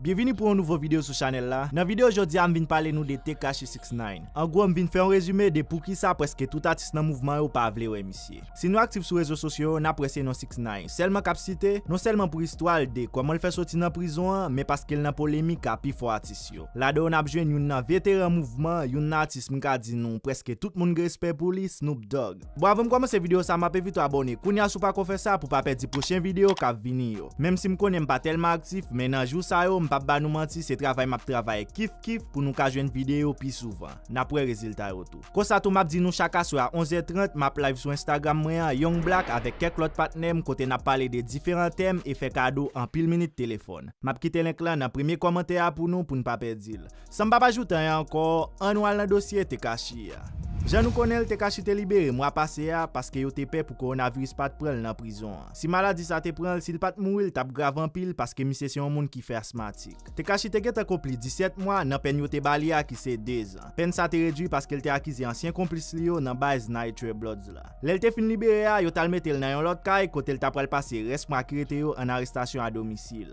Byenvini pou yon nouvo video sou chanèl la, nan video jodi a m vin pale nou de Tekashi 69 an gwo m vin fè yon rezime de poukisa prèske tout atis nan mouvman yo pa vle wè misye. Si nou aktif sou rezo sosyo yo nap wè se non 69 sèlman kap site, non sèlman pou istwa l de kòman l fè soti nan prizon an men paske l nan polemik a pifò atis yo. Ladan yo nap jwenn youn nan veteran mouvman, youn nan atis m ka di nou prèske tout moun gen respè pou li, Snoop Dogg. Bon avanm kòmanse video sa map evite w abòne kounya si w pako fè sa pou w pa pèdi pwochen video kap vini yo menm si m konnen m pa tèlman aktif men nan jou sa yo m pap ba nou manti se travay map travay kif kif pou nou ka jwenn video pi souvan nap wè rezilta yo tou konsa tou map di nou chak aswè a 11 è 30 map live sou Instagram mwen an Young Black avèk kèk lòt patnè m kote nap pale de diferan tèm e fè kado anpil minit telefòn map kite link lan nan premye kòmantè a pou nou pou n pa pèdi l. San m pa pa joutan an ankò, an nou al nan dosye Tekashi a. Jan nou konnen l, Tekashi te libere mwa pase a paske yo te pè pou kowonaviris pa t pran l nan prizon an. Si maladi sa te pran l, si l pa t mouri l t ap grav anpil paske misye se yon moun ki fè asmatik. Tekashi te gentan konpli 17 mwa nan pèn yo te ba li a ki se 2 zan. Pèn sa te redui paske l te akize ansyen konplis li yo nan baz Nitr Bloods la. Lè l te fin libere a, yo t al mete l nan yon lòt kay kote l ta pral pase rès mwa ki rete yo an arestasyon a domisil.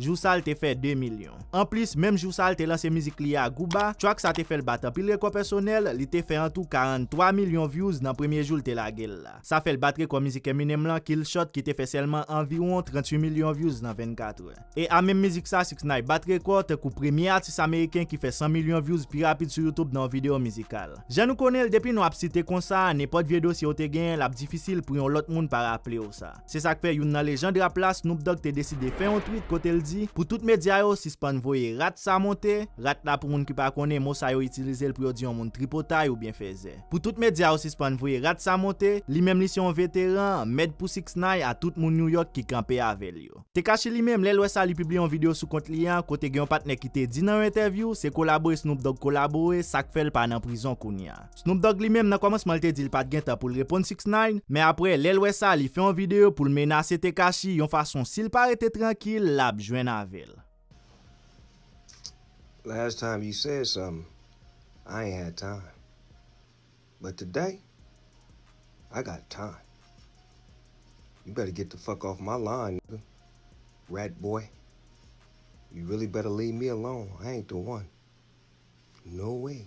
Jou sa l te fè 2 milyon. Anplis, menm jou sa l te lanse mizik li a Gouba, track sa te fè l bat anpil rekò pèsonèl, li te fè an tou 43 milyon vyouz nan premye jou l te lage l la. Sa fè l bat rekò mizik Eminem lan, Kill Shot ki te fè sèlman anviwon 38 milyon vyouz nan 24 è. E a menm mizik sa 6ix9ine bat rekò tankou premye atis ameriken ki fè 100 milyon vyouz pi rapid sou YouTube nan yon videyo mizikal. Jan nou konnen l depi non ap site konsa, nenpòt vye dosye w te genyen l ap difisil pou yon lòt moun pa raple w sa. Se sak fè youn nan lejand rap la Snoop Dogg te deside fè yon tweet kote l di pou tout medya yo sispann voye rat sa monte, rat la pou moun ki pa konnen mo sa yo itilize l pou yo di yon moun tripotay oubyen fèzè. Pou tout medya yo sispann voye rat sa monte, li menm li se yon veteran, mèd pou 6ix9i a tout moun New York ki kanpe avè l yo. Tekashi li menm lè l wè sa li pibliye yon video sou kont li an kote gen yon patnè ki te di nan yon entèvyou se kolabore Snoop Dogg kolabore sak fè l pa nan prizon kounya. Snoop Dogg li menm nan kòmansman l te di l pat gentan pou l reponn 6ix9ine, men aprè lè l wè sa li fè yon videyo pou l menase Tekashi yon fason si l pa rete trankil l ap jwenn avè l. Last time you said something I ain't had time but today I got time You better get the fuck off my lawn nigga Rat boy You really better leave me alone I ain't the one No way.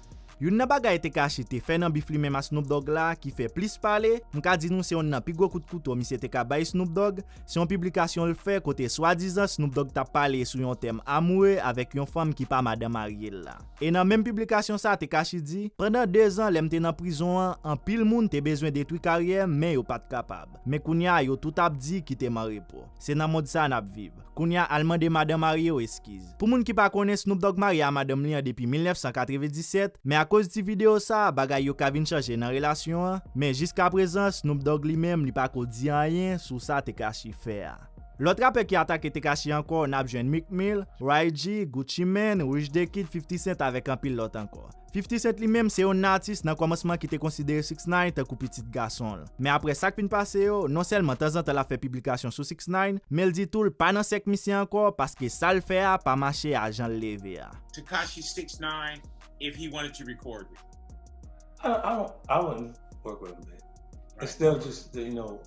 Youn nan bagay Tekashi te fè nan bif li menm ak Snoop Dogg la ki fè plis pale, m ka di nou se youn nan pi gwo kout kouto misye te ka bay Snoop Dogg, se yon piblikasyon l fè kote swadizan Snoop Dogg tap pale sou yon tèm amoure avèk yon fanm ki pa madan marye l la. E nan menm piblikasyon sa Tekashi di, Pandan 2 zan lè m te nan prizon an, anpil moun te bezwen detwi karyè m men yo pat kapab. Men kounya yo tout ap di kite m anrepo. Se nan mond sa nap viv. Kounya al mande madan marye w eskiz. Pou moun ki pa konnen Snoop Dogg marye a madanm li an depi 1997, men akoz ti video sa a bagay yo ka vin chanje nan relasyon an, men jiskaprezan Snoop Dogg li menm li pa ko di anyen sou sa Tekashi fè a. Lòt rapè ki atake Tekashi ankò nap jwenn Meek Mill, Ray-G, Gucci Mane, Rich Da Kid, 50 Cent avèk anpil lòt ankò. 50 Cent li menm se yon atis nan kòmansman ki te konsidere 6 ix tankou pitit gason l. Men aprè sa k fin pase yo, non sèlman tanzantan l ap fè piblikasyon sou 6 ix, men l di tou l pa nan sèk misye ankò paske sa l fè a pa mache a jan l leve a. Tekashi 6 ix if he wanted to record with. I don't I wouldn't work with him babe. It's still just you know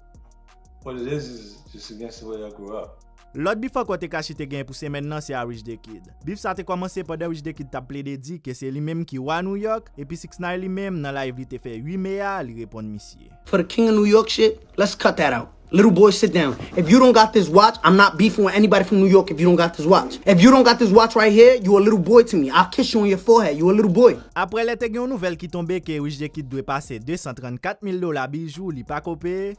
what it is is just against the way I grew up. Lòt bif ankò Tekashi te genyen pou semèn nan se a Rich the Kid. Bif sa te kòmanse pandan Rich the Kid t ap plede di ke se li menm ki Wa Nouyòk epi 6 9 li menm nan live li te fè 8 me a li reponn misye. For the king of New York shit let's cut that out little boy sit down if you don't got this watch I'm not beefing with anybody from New York if you don't got this watch if you don't got this watch right here you a little boy to me I'll kiss you on your forehead you a little boy. Aprè lè te gen yon nouvèl ki tonbe ke Rich the Kid dwe pase 234 mil dola bijou li pako peye,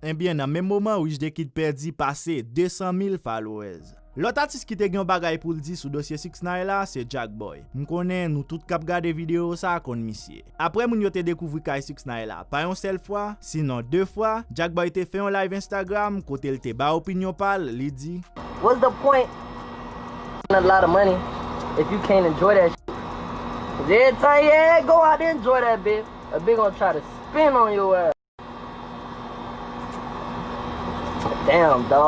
Ebyen nan menm moman Rich the Kid pèdi pase 200 mil followers. Lòt atis ki te gen yon bagay poul di sou dosye 6ix9ine la se Jack Boy. M konnen nou tout kap gade video sa konn misye. Aprè moun yo te dekouvri kay 6ix9ine la pa yon sèl fwa, sinon 2 fwa, Jack Boy te fè yon live Instagram kote l te bay opinyon pa l, li di. What's the point spend a lot of money if you can't enjoy that shit cuz every time yeah go out enjoy that bit a bit gon try to spend on your ass.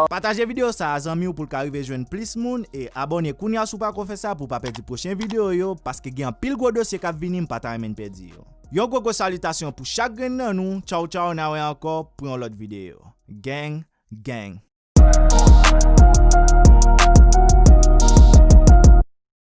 Pataje video sa a zanmiw poul ka rive jwenn plis moun e abòne kounya si w pako fè sa pou w pa pèdi pwochen video yo paske gen anpil gwo dosye kap vini m pa ta renmen n pèdi yo. Yon gwo gwo salitasyon pou chak grenn nan nou tchaw tchaw na wè ankò pou yon lòt video gang gang.